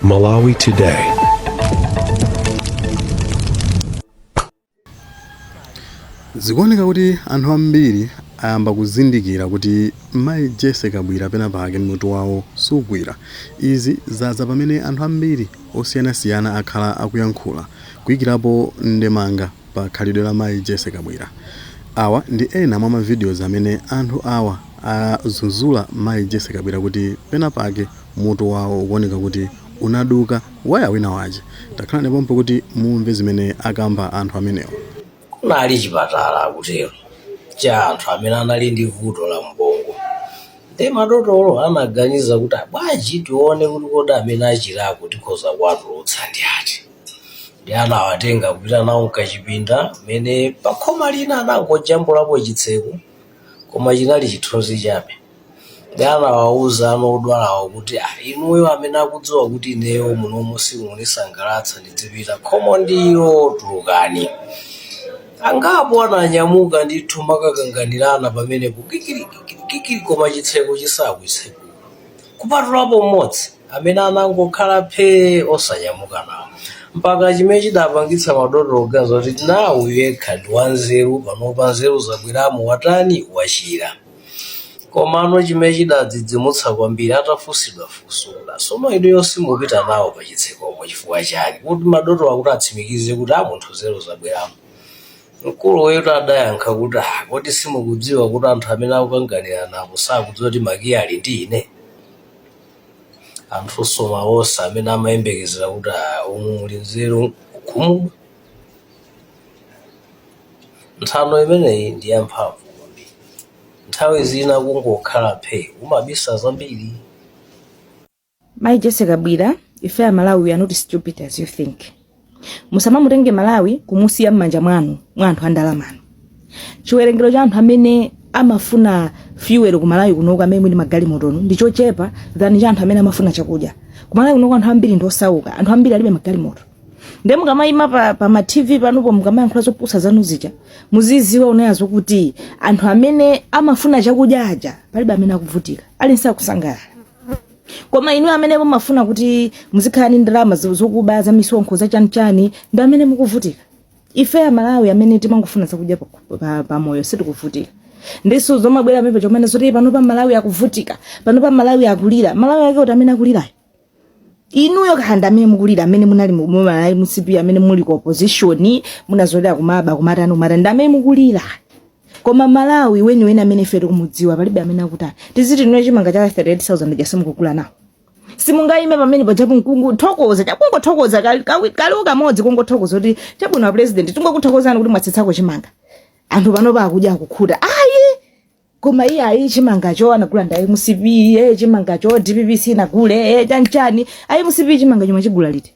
Malawi Today. zikuoneka kuti anthu ambiri ayamba kuzindikira kuti mayi Jessie Kabwira pena pake mutu wawo sugwira izi zadza pamene anthu ambiri osiyanasiyana akhala akuyankhula kuyikirapo ndemanga pa khalidwe la mayi Jessie Kabwira. Awa ndi ena mwa ma videos amene anthu awa adzudzula mayi Jessie Kabwira kuti pena pake mutu wawo ukuoneka kuti unaduka waya wina wache. Takhalani pompo kuti mumve zimene akamba anthu amenewa. Kunali chipatala akutero cha anthu amene anali ndi vuto la m'bongo nde madotolo anaganiza kuti bwanji tione kuti kodi amene achirako tikhoza kuwatulutsa ndi ati. nde anawatenga kupita nawo mkachipinda mmene pakhoma lina anangojambulapo chitseko koma chinali chithunzi chabe nde anawawuza anthu odwalawo kuti "Ah, inuyo amene akudziwa kuti ineyo munomu simukundisangalatsa ndizipita khomo ndilo tulukani angapo ananyamuka ndithu nkumakakanganirana pamenepo kikirikikirikiri koma chitseko chisakutseguka kupatulapo mmodzi amene anangokhala phee osanyamuka nawo mpaka chimene chidapangitsa madotolo kuganiza kuti mwina uyu yekha ndi wanzeru panopa nzeru zabweramo watani wachira komano chimene chidawadzidzimutsa kwambiri atafunsidwa funso sono inuyo simupita nawo pa chitsekopo chifukwa chake kuti madotolo akuti atsimikize kuti a munthu nzeru zabweramo mkuluyutu adayankha kuti "Ah, kodi simukudziwa kuti anthu amene akukanganirana apo sakudziwa kuti makiyi ali ndi ine anthu onse amene amayembekezera kuti "Ah, umu muli nzeru kukhumudwa nthano imeneyi ndi yamphamvu kwambiri nthawi zina kungokhala phe umabisa zambiri Mayi Jessie Kabwira, ife Amalawi we are not stupid as you think. musamamutenge malawi kumusiya m'manja mwanu mwa anthu andalamanu chiwerengero cha anthu amene amafuna fuel ku malawi kunoko amene muli ndi magalimotonu ndi chochepa than cha anthu amene amafuna chakudya ku malawi kunoko anthu ambiri ndi osauka anthu ambiri alibe magalimoto nde mukamayima pa, pa ma tv panupo mukamayankhula zopusa zanu zija muziziona kaye izo kuti anthu amene amafuna chakudya aja palibe amene akuvutika aliyense akusangalala koma inu amene mumafuna kuti muzikhala ndi ndalama zo- zokuba za misonkho za chanichani ndi amene mukuvutika ife amalawi amene timangofuna zakudya pa- pa- pamoyo sitikuvutika ndiyeno zomabwera apa nkumanena zoti pano pa malawi akuvutika pano pa malawi akulira malawi ake ati amene akulirayo inuyo ndi amene mukulira amene munali mu- mu malawi mcp amene muli ku opposition munazolera kumaba kumatani kumatani ndi amene mukulira koma malawi weniweni amene ife tikumudziwa palibe amene akutani tiziti inu chimanga cha 38000 ja simukugula nawo simungayime pamene pajapo nkungothokoza chakungothokoza kali- kawi- kaliwo kamodzi kungothokoza kuti chabwino a president tingokuthokozani kuti mwatsitsako chimanga anthu panopa akudya akukhuta ayi koma iye ayi chimangacho anagula nda a mcp e chimangacho dpp sinagule e chanchani ayi mcp chimanga chomwecho chagula liti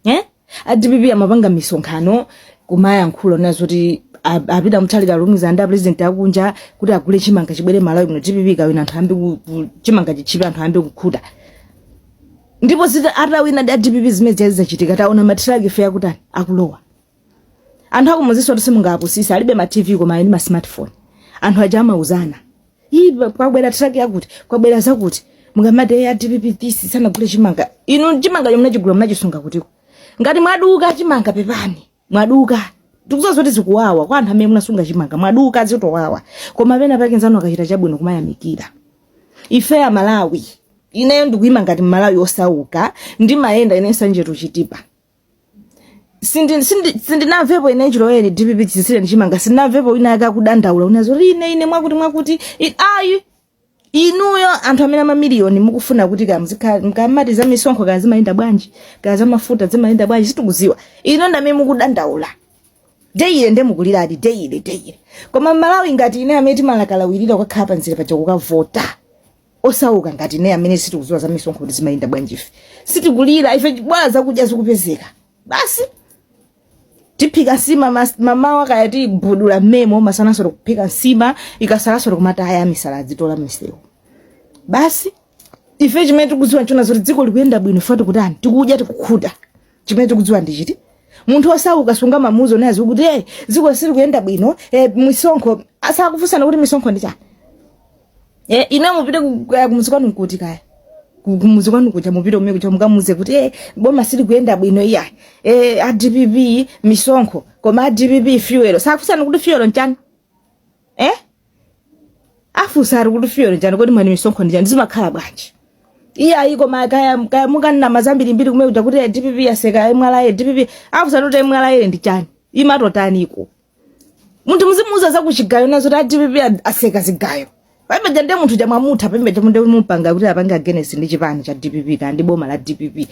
eh? a dpp amapanga misonkhano kumayankhula na zoti a- apita mutharika alumikizana ndi apresident akunja kuti agule chimanga chibwere malawi muno dpp ikawina anthu ayambe ku- ku- chimanga chitchipe anthu ayambe kukhuta ndipo zita atawina ndi a dpp zimene zazachitika taona matiraki ife akutani akulowa anthu akumudzinso kuti simungawapusise alibe ma tv koma ali ndi ma smartphone anthu aja amauzana ii pa- kwabwera truck yakuti kwabwera zakuti mukamati ya dpp this sanagule chimanga inu chimanga chomwe munachigula munachisunga kutiko ngati mwaduka chimanga pepani mwaduka tikudziwa kuti zikuwawa kwa anthu amene munasunga chimanga mwaduka zikuwawa koma pena pake mnzanu akachita chabwino kumayamikira ife a malawi ineyo ndikuima ngati mmalawi osauka ndimayenda ine nsanje to chitipa Sindi- sindi- sindinamvepo ine chilowere dpp chitsitsire ndichimanga sindinamvepo wina wake akudandaula kunena zo kuti ine ine mwakuti mwakuti I- ayi inuyo anthu amene amamiliyoni mukufuna kuti mukamati za misonkho kaya zimayenda bwanji kaya za mafuta zimayenda bwanji sitikuziwa inu ndamene mukudandaula deyile nde mukuliradi deyile deyile koma mmalawi ngati ine amene timakalawirira kukakhala panzira paja kukavota osauka ngati ine amene sitikudziwa za misonkho kuti zimayenda bwanji ife sitikulira ife bola zakudya zikupezeka basi tiphika nsima mas- mamawa kaya tibutula mmemo masananso tikuphika nsima ikasalanso tikumataya misala adzitola misewu basi ife chimene tikudziwa nchonena zoti dziko likuyenda bwino ife tikutani tikudya tikukhuta chimene tikudziwa ndi chiti munthu osauka sungamamuuze kunena kuti e dziko sili kuyenda bwino e, misonkho azakufunsani kuti misonkho ndi chani e, ine mupite ku- ku- kumuzi kwanu nkuti kaya Ku- kumuzi kwanu kuja mupite kumene kuja mukamuuze kuti e boma sili kuyenda bwino iya e, a dpp misonkho koma a dpp fuel azakufunsani kuti fuel nchani eh afunsa ati kuti fuel nchani kodi mwati misonkho ndi chani zimakhala bwanji iye ayiko ma kaya kaya mukanama zambirimbiri kumene kuja kuti dpp yatseka mra dpp afunsa kuti mra ndi chani imatani iko munthu muzimuuza zakuchigayo nazo kuti adpp ad- atseka zigayo pameneja nde munthu chamwamutha pameneja nde mumupanga kuti apange agenesi ndi chipani cha dpp kaya ndi boma la dpp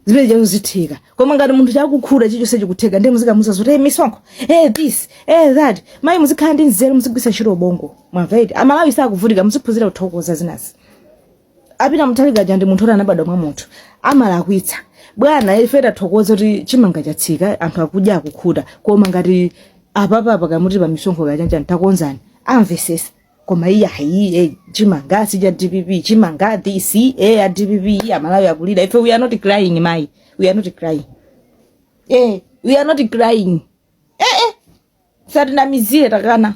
zimene jazo zitheka koma ngati munthu chakukhula chichonse chikutheka ndiye muzikamuza zoti hey, misonkho hey, this hey, that mayi muzikhala ndi nzeru muzigwisa ntchito ubongo mwamva eti amalawi sakuvutika muziphunzira kuthokoza zinazi a peter mutharika aja ndi munthu oti anabadwa mwa munthu amalakwitsa bwana ife tathokoza kuti chimanga chatsika anthu akudya akukhuta koma ngati apapa pakamuti pa misonkho kachanjani takonzani amvesesa koma iyi ayiye chimanga si cha dpp chimanga this eh a dpp iyi amalawi akulira ife we are not crying mai we are not crying eh we are not crying eh eh satinamizire takana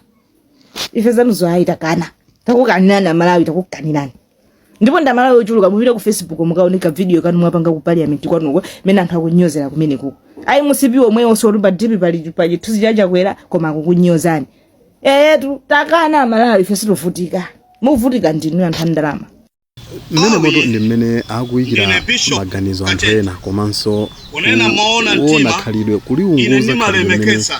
ife zanuzo ayi takana takukanirani amalawi takukanirani ndipo ndi amalawi ochuluka mupite ku facebook mukaone ka video kanu mwapanga ku parliament kwanuko mene anthu akunyozera kumene kuko a mcp omwe onse oti pa dp pali pa chithunzi cha chakwera koma akukunyozani eyetu takana amalawi ife sitovutika muvutika ndinu anthu a ndalama mmene moto ndi mmene akuyikira Ndine Bishop maganizo anthu Katete. ena komanso Kunena moona mtima, khalidwe ine kuliunguza khalidwe limene ndimalemekeza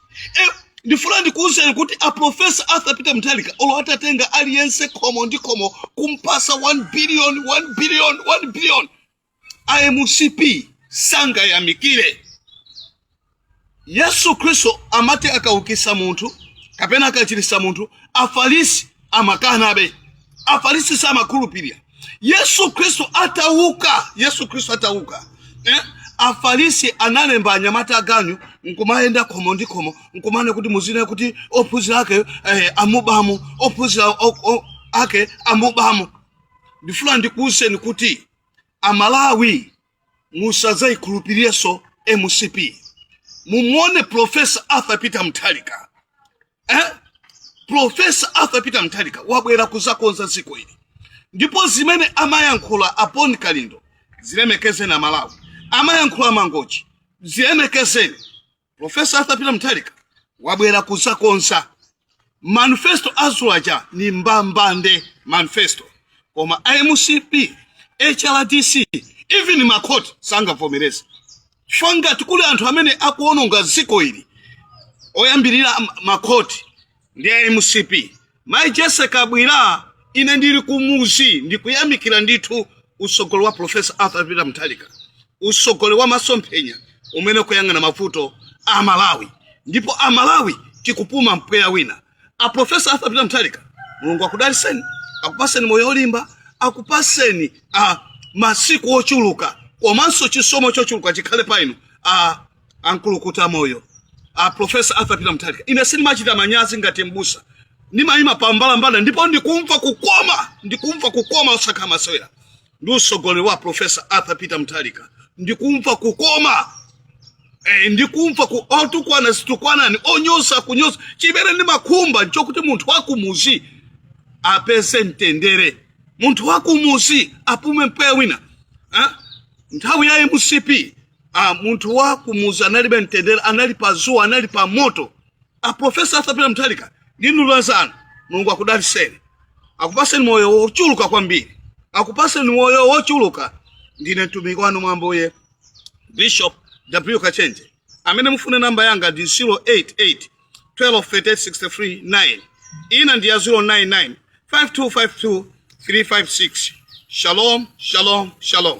Eh, ndifuna ndikuwuzeni kuti a profesa arthur peter mutharika olo atatenga aliyense khomo ndi khomo kumpasa 1 billion 1 billion 1 billion a mcp sangayamikire yesu khristu amati akaukisa munthu kapena akachirisa munthu afarisi amakanabe afarisi samakhulupirira yesu khristu atauka yesu khristu atauka eh? afarisi analemba anyamata aganyu nkumayenda khomo ndi khomo nkumanena kuti muzinena kuti ophunzira ake eh, amubamo ophunzira o- o- ake amubamo ndifuna ndikuwuzeni kuti amalawi musazayikhulupirirenso mcp mumuone profesa arthur peter mutharika eh? profesa arthur peter mutharika wabwera kuzakonza dziko ili ndipo zimene amayankhula a bon kalindo zilemekezeni amalawi amayankhula a mangochi zilemekezeni profesa arthur peter mutharika wabwera kuzakonza manifesto adzulo aja ni mbambande manifesto koma a mcp hrdc even makhoti sangavomereza chifukwa ngati kuli anthu amene akuononga dziko ili oyambirira am- makhoti ndi a mcp mayi jessie kabwila ine ndili kumuzi ndikuyamikira ndithu utsogolo wa profesa arthur peter mutharika utsogolo wa masomphenya umene ukuyang'ana mavuto a malawi ndipo a malawi tikupuma mpweya wina a profesa arthur peter mutharika mulungu akudaliseni akupaseni moyo olimba akupaseni masiku ochuluka komanso chisomo chochuluka chikhale pa inu a nkulukuta moyo a profesa arthur peter mutharika ine sindimachita manyazi ngati mbusa ndimayima pambalambanda ndipo ndikumva kukoma ndikumva kukoma osakhala masewera ndi utsogoleri wa profesa arthur peter mutharika ndikumva kukoma e, ndikumva kukoma otukwana zitukwanani onyosa kunyosa chimene ndimakhumba nchokuti munthu wakumuzi apeze mtendere munthu wakumuzi apume mpweya wina eh? nthawi ya mcp ah, munthu wakumuzi analibe mtendere anali pa zuwa anali pa moto a profesa arthur peter mutharika ndimdulira zanu mulungu akudaliseni akupaseni moyo wochuluka kwambiri akupaseni moyo wochuluka ndine mtumiki wanu mwambuye bishop w kachenje amene mufune namba yanga ndi 088 1238639 ina ndi ya 099 5252 356 shalom shalom shalom